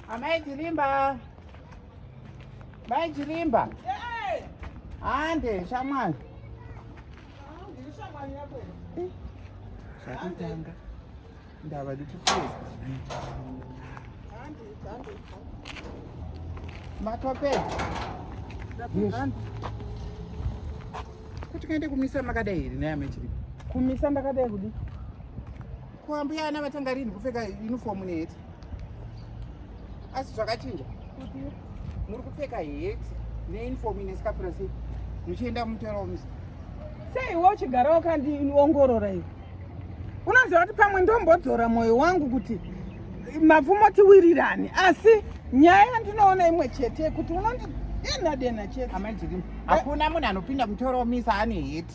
Amai Chirimba. Mai Chirimba. Hande shamwari. Zvakutanga. Ndava ndikupedza. Matopedza. Kuti kaende kumisa makadai here naye amai Chirimba? Kumisa ndakadai kudii? Ko ambuya ana vatanga rini kupfeka uniform neheti? Asi zvakachinja. Muri kupfeka heti neuniform ine sikapura sei? Muchienda mumutero musi. Sei iwe uchigara wakandiongorora iwe? Unoziva kuti pamwe ndombodzora moyo wangu kuti mapfumo tiwirirane asi nyaya yandinoona imwe chete kuti unondidenha denha chete. Amai Jirimu, hakuna munhu anopinda mutoro misa ane heti.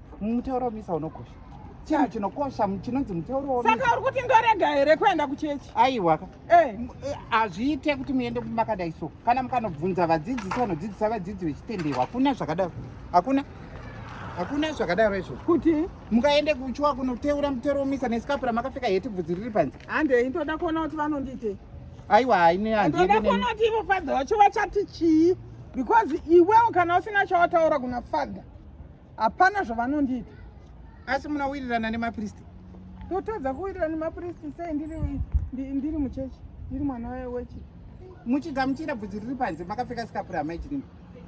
mutauro wemisa unokosha chinhu chinokosha chinonzi mutauro saka uri kuti ndorega here kuenda kuchechi aiwaka eh. eh, hazviite kuti muende makadai so kana mukanobvunza vadzidzisi vanodzidzisa vadzidzi vechitendero hakuna zvakadaro hakuna hakuna zvakadaro izvo kuti mukaende kuchuwa kunoteura mutero womisa nesikapura makapfeka heti bvudzi riri panze handei ndoda kuona kuti vanondiite aiwa hainendoda kuona kuti ivo fadha vacho vachati chii because iwewo kana usina chawataura kuna fadha hapana zvavanondiita asi munawirirana nemapristi ndotadza kuwirirana nemapristi sei ndiri muchechi ndiri mwana wechi muchigamuchira bvudzi riri panze makapfeka sikapura amaitinini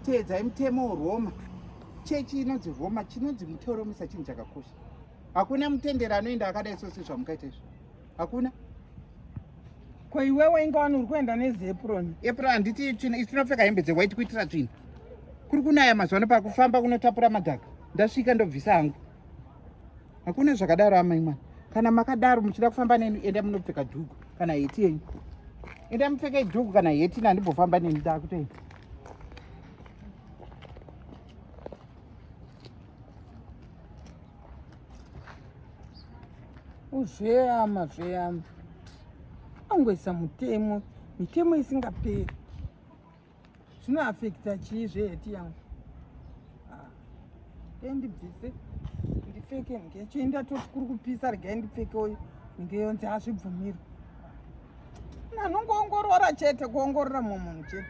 teedzai mutemo weroma chechi inonzi roma chinonzi mutoro musa chinhu chakakosha hakuna mutendero anoenda akadai sose zvamukaita izvo hakuna ko iwewe inga wani uri kuenda nezeproni epro handiti tinopfeka hembe dzewhite kuitira tsvina kuri kunaya mazuva ano pakufamba kunotapura madhaka ndasvika ndobvisa hangu hakuna zvakadaro amai mwana kana makadaro muchida kufamba neni enda munopfeka dhuku kana heti yenyu enda mupfeke dhuku kana heti nandimbofamba neni dakutoenda Uzveyama zveyama. Angoisa mutemo, mitemo isingaperi. Zvino affecta chii zveyeti yangu? Ah. Endi bvise ndipfeke ngecho indatoti kuri kupisa regai ndipfeke uyu ndiyonzi hazvibvumirwe. anongoongorora chete kuongorora mumwe munhu chete